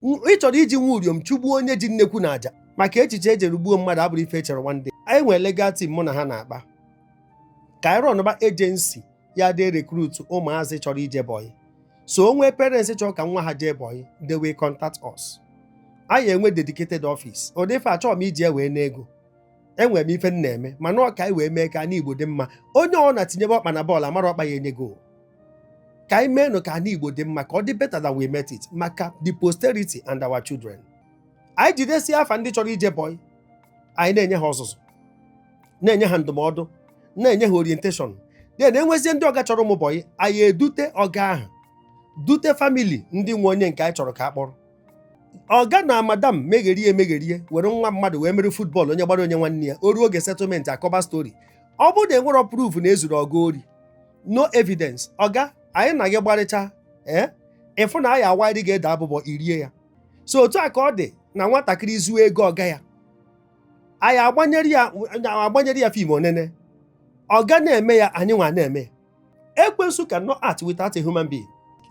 ị chọrọ iji nwa uriom chụgbuo onye ji nnekwu na aja maka echiche ejere gbuo mmadụ abụrọ ife echere one day anyị nwere legal team mụ na ha na-akpa ka anyị rọnụba ejensi ya dị rekrutu ụmụazị chọrọ ije bọyị so onwe parents chọrọ ka nwa ha jee bọyị they will contact us anyị enwe dedicated office ọ dị ife achọrọ m iji ewee n'ego enwere m ife m na-eme mana ọ ka anyị wee mee ka ana Igbo dị mma onye ọ na tinyebe ọkpa na bọọlụ amara ọkpa ya enye gol ka anyị meenụ ka ana Igbo dị mma ka ọ dị better than we met it maka the posterity and our children anyị jidesi afa ndị chọrọ ije bọị anyị na-enye ha ọzụzụ na-enye ha ndụmọdụ na-enye ha orientation then enwezie ndị ọga chọrọ ụmụ bọị anyị edute ọga ahụ dute famili ndị nwe onye nke anyị chọrọ ka a kpọrọ ọga na madam megherie emegherie were nwa mmadụ wee mere futbọl onye gbara onye nwanne ya o ruo oge settlement akọba stori ọ bụrụ na enwerọ proof na ezuru ọga ori no evidence ọga anyị na gị gbarịcha ee eh? ịfụ na anyị awaịrị gị ede abụbọ i rie ya so otu a ka ọ dị na nwatakịrị zuo ego ọga ya anyị agbanyere ya fim o nene ọga na-eme ya anyị nwa na-eme ekwensu cannot act without a human being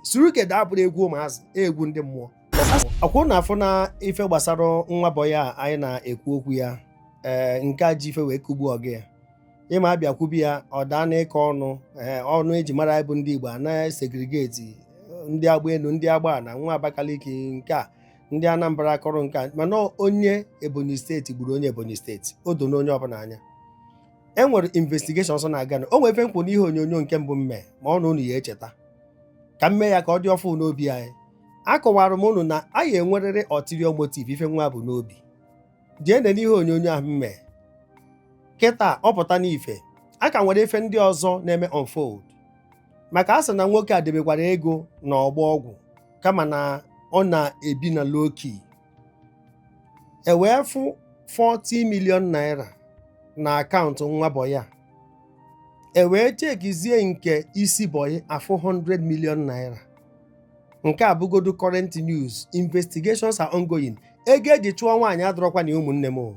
surugede abụrọ egwu ụmụazị egwu ndị mmụọ ọkwa unu afụ na ife gbasara nwa bọyị a anyị na-ekwu okwu ya ee eh, nke a ji ife wee kugbuo ọga ya ị ma a bịa kwube ya ọ daa n'ịkọ ọnụ ee ọnụ eji mara anyị bụ ndị Igbo a na-esegregeti ndị agba elu ndị agba ana nwa Abakaliki nke a ndị Anambra akọrọ nke a mana onye Ebonyi steeti gburu onye Ebonyi steeti o do n'onye ọbụla anya e nwere investigeshon sọ na-aga na o nwere ife m kwu n'ihe onyonyo nke mbụ m mee ma ọ na unu ya echeta ka m mee ya ka ọ dị ọfụ n'obi anyị akọwara m unu na a ya enwerịrị ulterior motive ife nwa bu n'obi jee nene ihe onyonyo ahụ m mee kịta ọ pụta n'ife a ka nwere ife ndị ọzọ na-eme unfold maka a sị na nwoke a debekwara ego na ọgbọ ọgwụ kama na ọ na-ebi na low key e wee fụ 40 million naira na akaụntụ nwa bọyị a e wee chekizie nke isi bọyị afụ 100 million naira nke a bụgodu current news investigations are ongoing ego eji chụọ nwaanyị adịrọkwa na ụmụnne m o.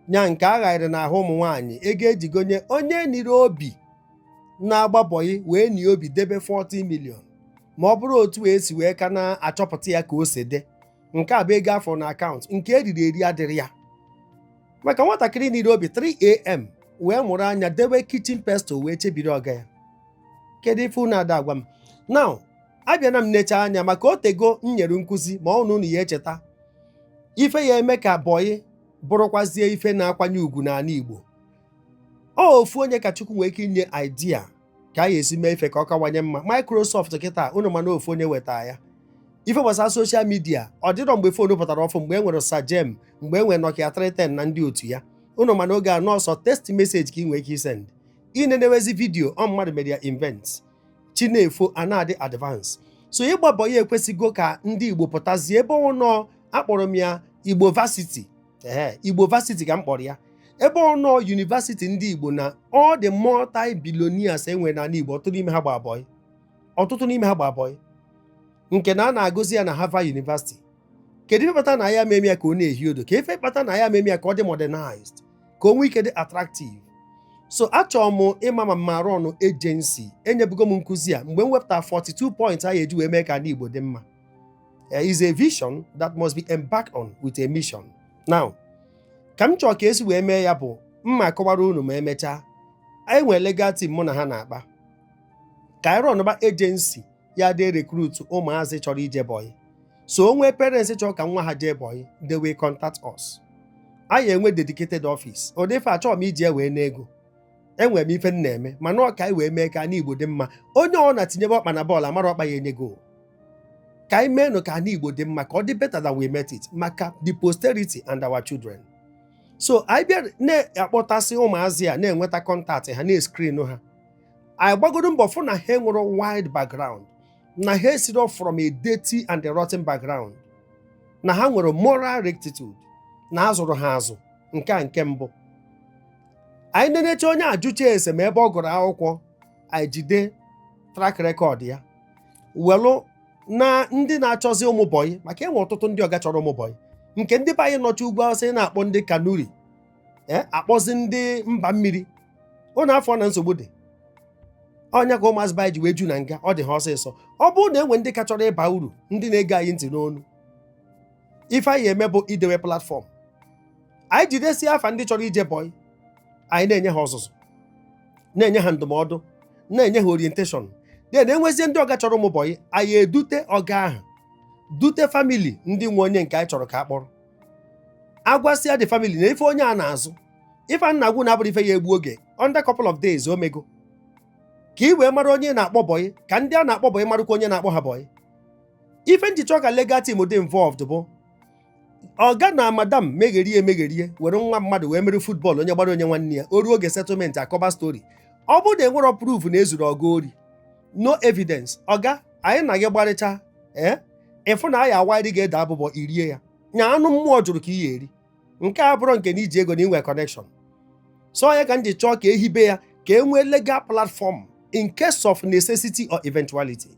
nya nke a waịrị n'ahụ ụmụ nwaanyị ego eji gonye onye niri obi na-agba bọyị wee nie obi debe 40 million ma ọ bụrụ otu esi wee ka na-achọpụta ya ka o si dị nke a bụ ego a fụrụ na akaụntụ nke eriri eri adịrọ ya maka nwatakịrị niri obi 3am wee mụrụ anya debe kichin pestle wee chebiri ọga ya kedu ife unu ada agwa m now abịana m necha anya maka o teego m nyere nkụzi ma ọ na unu ya echeta ife ya eme ka bọyị bụrụkwazie ife na-akwanye ugwu n'ala Igbo ọ ofu onye ka Chukwu nwee ike inye idea ka a ya esi mee ife ka ọ kawanye mma Microsoft kịta unu ma na ofu onye weta ya ife gbasara soshal midia ọ dịrọ mgbe fon pụtara ọfụ mgbe e nwere Sagem mgbe e nwere Nokia 310 na ndị otu ya unu ma na oge a na ọ sọ text message ka ị nwee ike isend ị na-enewezi vidiyo ọ mmadụ mere ya invent chi na-efo a na-adị advance so ịgba bọyị ekwesịgo ka ndị igbo pụtazie ebe ọ nọ akpọrọ m ya igbo vasiti ee igbo vasiti ka m kpọrọ ya ebe ọ nọ yunivasiti ndị igbo na all the multi billionaires e nwere n'ala igbo ọtụtụ n'ime ha gba bọyị ọtụtụ n'ime ha gba bọyị nke na a na-agụzi ya na Harvard University kedu ife kpata na ya meme ya ka ọ na-ehi odo ka ife kpata na ya meme ya ka ọ dị modernized ka o nwee ike dị attractive so achọrọ m ịma ma m ma rọnụ ejensi enyebugo m nkụzi a mgbe m wepụta 42 points a ya eji wee mee ka anị Igbo dị mma eh, is a vision that must be embarked on with a mission now ka m chọọ ka e si wee mee ya bụ m ma akọwara unu ma emechaa anyị nwere legal team mụ na ha na-akpa ka anyị rọnụba ejensi ya dị erekrut ụmụazị chọrọ ije bọyị so o nwee parents chọrọ ka nwa ha jee bọyị they will contact us anyị enwee dedicated office ọ dịrọ ife achọrọ m iji wee nwee ego enwere m ife m na-eme mana ọ ka anyị wee mee ka anị igbo dị mma onye ọ bụna tinyebe ọkpa na bọọlụ amarọ ọkpa ya enye goal ka anyị meenụ ka anị igbo dị mma ka ọ dị better than we met it maka the posterity and our children so anyị bịa na-akpọtasị ụmụazị a na-enweta kọntaktị ha na-eskrinụ ha anyị gbagodo mbọ fụ na ha nwere wide background na ha esirọ from a dirty and a rotten background na ha nwere moral rectitude na a zụrụ ha azụ nke a nke mbụ anyị na-enecha onye ajụcha ese ma ebe ọ gụrụ akwụkwọ anyị jide track record ya welụ na ndị na-achọzi ụmụbọyị maka e nwe ọtụtụ ndị ọga chọrọ ụmụbọyị nke ndị be anyị nọcha ugwu Awụsa na-akpọ ndị kanuri eh, akpọzi ndị mba mmiri unu afụrọ na nsogbu dị ọ ya ka ụmụazị be anyị ji wee ju na nga ọ dị ha ọsịsọ ọ bụrụ na e nwee ndị ka chọrọ ịba uru ndị na-ege anyị ntị n'onu ife anyị eme bụ idewe platfọm anyị jidesi afa ndị chọrọ ije bọị anyị na-enye ha ọzụzụ na-enye ha ndụmọdụ na-enye ha orientation then e nwezie ndị ọga chọrọ ụmụ bọị anyị edute ọga ahụ dute famili ndị nwe onye nke anyị chọrọ ka a kpọrọ agwasịa the family na ife onye a na-azụ ife a na-agwa unu abụrọ ife ya egbu oge under couple of days o meego ka ị wee mara onye na-akpọ bọyị ka ndị a na-akpọ bọyị marụkwa onye na-akpọ ha bọyị ife m ji chọọ ka legal team dị involved bụ ọga na madam megherie emegherie were nwa mmadụ wee mere football onye gbara o nye nwanne ya o ruo oge settlement akọba story ọ bụrụ na enwerọ proof na e zuru ọga ori no evidence ọga anyị na gị gbarịcha ee eh, ịfụ na anyị awaịrị ga-ede abụbọ irie ya nya anụ mmụọ jụrụ ka ị ya-eri nke a bụrụ nke na i ji ego na i nwe connection so ọ ya ka m ji chọọ ka e hibe ya ka e nwee legal platform in case of necessity or eventuality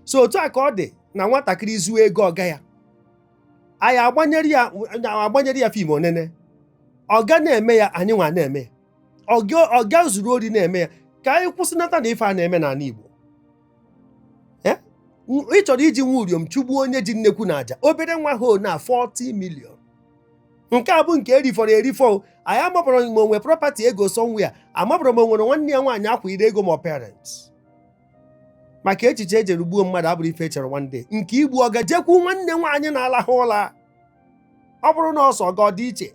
so otu a ka ọ dị na nwatakịrị zuo ego ọga ya anyị agbanyere ya film ọ nene ọga na-eme ya anyị nwa na-eme ya ọga zuru ori na-eme ya ka anyị kwụsịnata na ife a na-eme n'ala Igbo eh? ị chọrọ iji nwa uriom chụgbuo onye ji nnekwu na aja obere nwa ho na 40 million nke a bụ nke erifọrọ erifọ anyị amabọrọ ma o nwe property ego somewhere amabọrọ ma o nwere nwanne ya nwaanyị akwa ire ego ma parents maka echiche e jiri gbuo mmadụ abụrọ ife e chere one day nke igbu ọga jekwu nwanne nwaanyị na-alahụ ụla ọ bụrụ na ọ sọ ọga ọ dị iche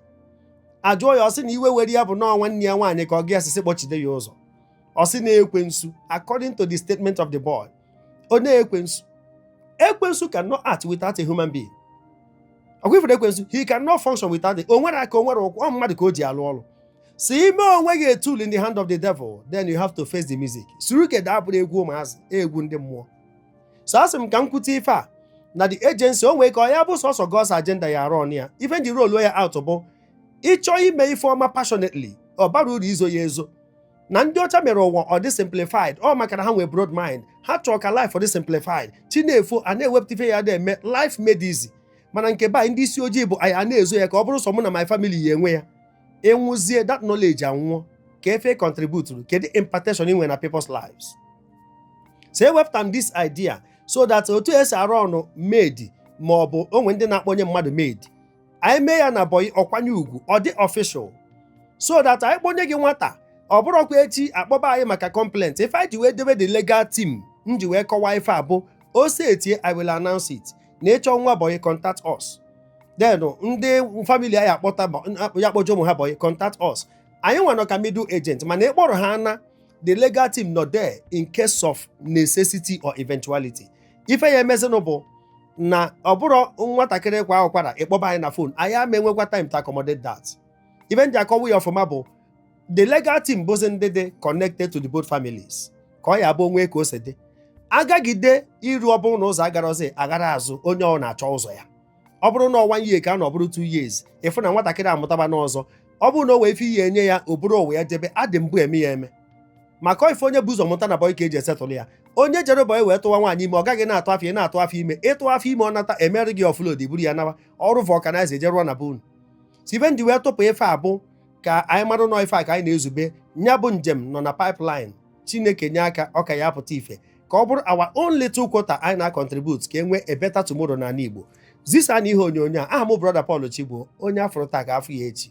ajụọ ya ọ sị na iwe were ya bụ na ọ nwanne ya nwaanyị ka ọga sị sị kpọchide ya ụzọ ọ sị na ekwensu according to the statement of the boy ọ na ekwensu ekwensu cannot act without a human being ọkwa ifere ekwensu he cannot function without it o nwerọ aka o nwerọ ụkwụ ọ mmadụ ka o ji alụ ọrụ so i mee onwe gị a tool in the hand of the devil then you have to face the music surugede abụrọ egwu ụmụazị egwu ndị mmụọ so asị m ka m kwute ife a na the agency o nwee ka ọ ya-abụ sọsọ God's agenda ya-arọnụ ya ife m ji rolu ya out bụ ị chọọ ime ife ọma passionately ọ barọ uru izo ya ezo na ndị ọcha mere ụwa ọ dị simplified ọ maka na ha nwee broad mind ha chọọ ka life ọ dị simplified chi na-efo a na-ewepụta ife ya na-eme life made easy mana nke be anyị ndị isi ojii bụ anyị a na-ezo ya ka ọ bụrụ sọ mụ na my family ya-enwe ya ị nwụzie that knowledge anwụọ kee ife ị contributuru kedu impartation i nwe na people's lives so ewepụta m this idea so that otu e si arọnụ maid ma ọ bụ o nwe ndị na-akpọnye mmadụ maid anyị mee ya na bọyị ọ kwanye ugwu ọ dị official so that anyị kpọnye gị nwata ọ bụrụkwa echi akpọba anyị maka complaint ife anyị ji wee debe the legal team m ji wee kọwaa ife a bụ o setie i will announce it na ị chọọ nwa bọyị contact us then ndị family ya-akpọta bọ- ya-akpọje ụmụ ha bọyị contact us anyị nwa nọ ka middle agent mana ị kpọrọ ha na the legal team nọ there in case of necessity or eventuality ife ya-emezinụ bụ na ọ bụrọ nwatakịrị kwaa ụkwara ị kpọba anyị na phone anyị ama enwekwa time to accommodate that ife m ji akọwa ya ọfụma bụ the legal team bụzi ndị dị connected to the both families ka ọ ya-abụ o nwe ka o si dị agagide iru ọ bụrụ na ụzọ agarozi aghara azụ onye ọ na-achọ ụzọ ya ọ bụrụ na ọ one year ka a na ọ bụrụ two years ị fụ na nwatakịrị amụtaba n'ọzọ ọ bụrụ na o nwee ife ị ya-enye ya o buru ụwa ya jebe a dị mbụ eme ya eme maka ife onye bu ụzọ mụta na bọị ka e ji esettle ya onye jere bọị wee tụwa nwaanyị ime ọ gaghị na-atụ afọ ị na-atụ afọ ime ịtụ afọ ime ọ nata e mere gị offload buru ya nawa ọrụ vulcanizer eje rụọ na be unu so ife m ji wee tụpụ ife a bụ ka anyị mara na ọ ife a ka anyị na-ezube nya bụ njem nọ na pipeline chineke nye aka ọ ka ya apụta ife ka ọ bụrụ our own little quota anyị na-acontribute ka e nwee a better tomorrow n'ala Igbo zisa na ihe onyonyo a aha m brother Paul Chigbo onye afọrọ taa ka afọ ya echi